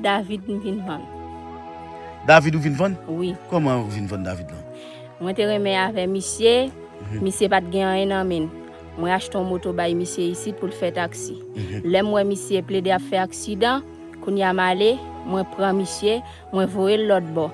David m vin vann. David ou vin vann? Wi. Koman ou vin vann David lan? Mwen te renmen avè misye, misye pat gen anyen nan menn. Mwen achte yon moto bay misye isit pou l fè taksi. Lè m wè misye plede ap fè aksidan, kounye a m ale, mwen pran misye, mwen voye l lòt bò.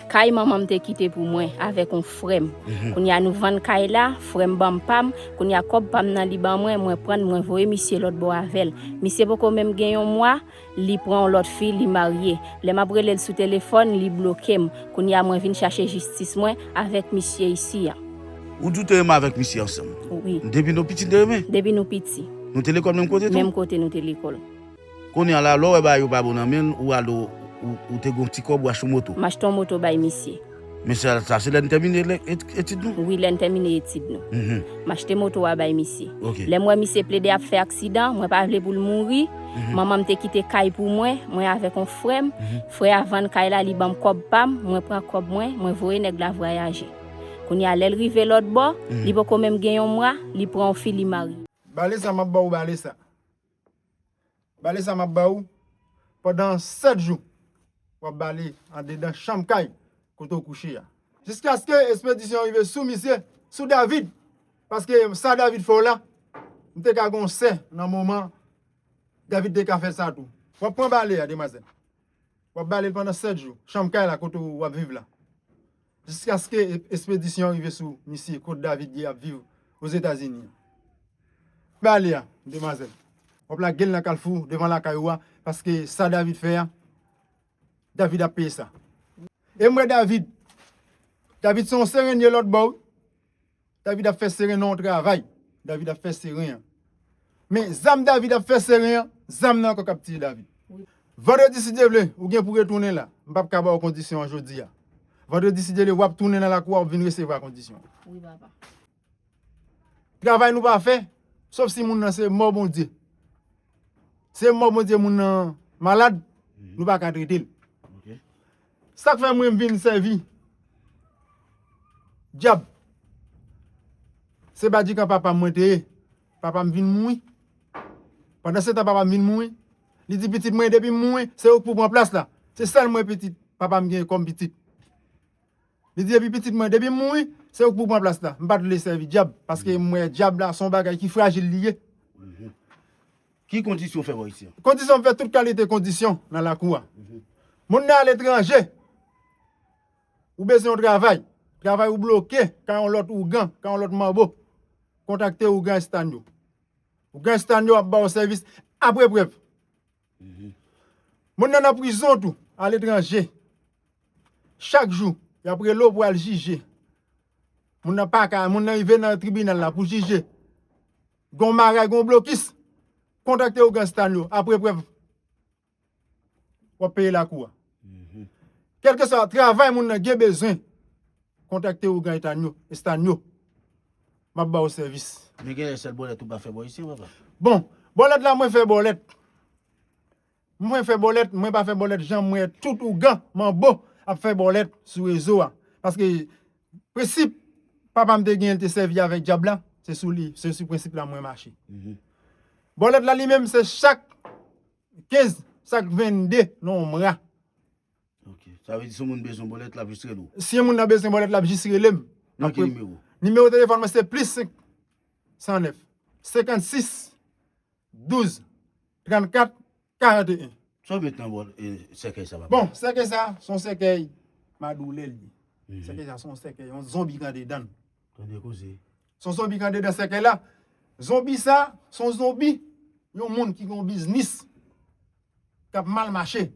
Kay manman m te kite pou mwen avèk yon frè m. Kounye a nou vann kay la, frè m ban m pa m, kounye a kòb pa m nan li ban mwen, mwen pran l mwen voye misye lòt bò avè l. Misye poko menm gen yon mwa, li pran yon lòt fi li marye lè map relel sou telefòn li blokem kounya mwen vin chache jistis mwen avèk misye isi an. Ou di ou te renmen avèk misye ansanm? Wi. Depi nou piti n te renmen? Depi nou piti. Nou te lekòl menm kote tou? Menm kote nou te lekòl. Kounya la lè w wè bagay yo pa bon nan men l ou al ou te gen yon ti kòb ou achte yon moto? M achte yon moto bay misye. Men sa sa se lè n tèmine lè etid nou? Wi lè n tèmine etid nou. M achte moto a bay misye. Lè m wè misye plede ap fè aksidan, mwen pa vle pou l mouri, manman m te kite kay pou mwen, mwen avèk on frè m, frè a vann kay la li ban m kòb pa m, mwen pran kòb mwen, mwen voye nèg la vwayaje. Kounye a lè l rive lòtbò, li poko menm gen yon mwa, li pran on fi li marye. Bale sa m ap ba w bale sa. Bale sa map ba ou pandan 7 jou. Wap bale andedan chanm kay kote ou kouche a. Jiskaske espedisyon an rive sou misye, sou David. Paske sa David fè w la, m te ka gen yon sè nan moman David te ka fè sa tou. Wap pran bale a demwazèl. Wap bale l pandan 7 jou. Chanm kay la kote ou wap viv la. Jiskaske espedisyon an rive sou misye kot David ye ap viv Ozetazini. Pa ale a, demwazèl. Wap lage l nan kalfou devan lakay ou a paske sa David fè a, David ap peye sa. E m wè David. David se yon serenye lòtbò wi. David ap fè seren nan yon travay David ap fè seren an Men zam David ap fè seren an Zam nan ankò k ap tiye David Vandredi si Dye vle ou gen pou w retounen la M pap ka ba w kondisyon an jodi a Vandredi si Dye vle w ap tounen nan lakou a w ap vin resevwa kondisyon an Travay nou pa fè Sof si moun nan se mò Bondye Se mò Bondye moun nan malad Nou pa ka trete l Sak fè mwen vin sèvi dyab se badikan papam mwen te ye papam vin mouri pandan setan papam vin mouri li di pitit mwen depim mouri se ou ki pou pran plas la se sèl mwen pitit papam gen kòm pitit li di epi pitit mwen depim mouri se ou ki pou pran plas la m pat vle sèvi dyab paske m wè dyab la son bagay ki frajil li ye Ki kondisyon fè vwa isi an? Kondisyon m fè tout kalite kondisyon nan lakou a. Moun nan aletranje, ou bezwen yon travay, travay ou bloke ka yon lòt ougan, ka yon lòt manbo, kontakte ougan Estagno. Ougan Estagno ap ba ou sèvis apre prèv. Moun nan nan prizon tou, aletranje, chak jou y ap rele ou pou al jije. Moun nan pa ka, moun nan rive nan tribinal la pou jije. Gon maray gon blokis kontakte ougan stan yo apre prèv wap peye lakou a kelkeswa travay moun nan gen bezwen kontakte ougan etan yo stan yo map baw sèvis. Men genlè sèl bòlèt ou pa fè bò isi papa. Bon, bòlèt la mwen fè bòlèt. Mwen fè bòlèt mwen pa fè bòlèt janm wè tout ougan manbo ap fè bòlèt sou rezo a paske prensip papam te genyen li te sèvi avèk djab la se sou li se sou prensip la mwen mache bòlèt la li menm se chak 15 chak 22 nan yon mwa sa vle di si yon moun bezwen bòlèt lap jis rele w si yon moun nan bezwen bòlèt lap jis rele m nan ki nimewo nimewo telefòn mwen se plis 5 109 56 12, 34, 41. Sa w met nan bòl sèkèy sa papa? Bon, sèkèy sa, se yon sèkèy madoulè l ye. Sèkèy sa se yon sèkèy, yon zonbi ki andedan l. Tande koze. Se yon zonbi ki andedan sèkèy la. Zonbi sa, se yon zonbi, yon moun ki gen yon biznis. kap mal mache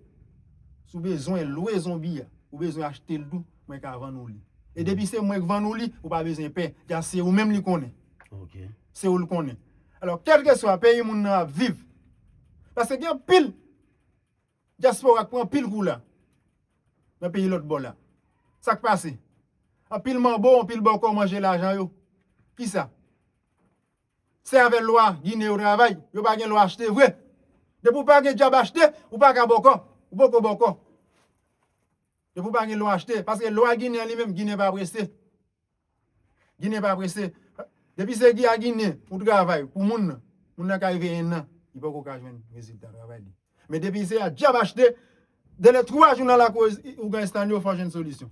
si w bezwen lwe zonbi a ou bezwen achte l tou mwen ka vann ou li e depi se mwen k vann ou li ou pa bezwen pè jan se ou menm li konnen se ou l konnen alò kèlkeswa peyi moun nan ap viv paske gen anpil dyaspora k pran anpil kou la nan peyi lòtbò la sa k pase anpil manbo anpil bòkò manje lajan yo kisa Se avè lwa ginen yo travay, yo pa gen lwa achte vre. Depi ou pa gen djab achte, ou pa ka bòkò, ou poko bòkò. Depi ou pa gen lwa achte, paske lwa ginen li menm, ginen pa prese. Ginen pa prese. Depi se ki a ginen ou travay pou moun nan, moun nan ka rive ennan, li poko ka jwenn rezilta travay li. Men depi se a djab achte, delè 3 jou nan lakou ougan estanyo fè w jwenn solisyon.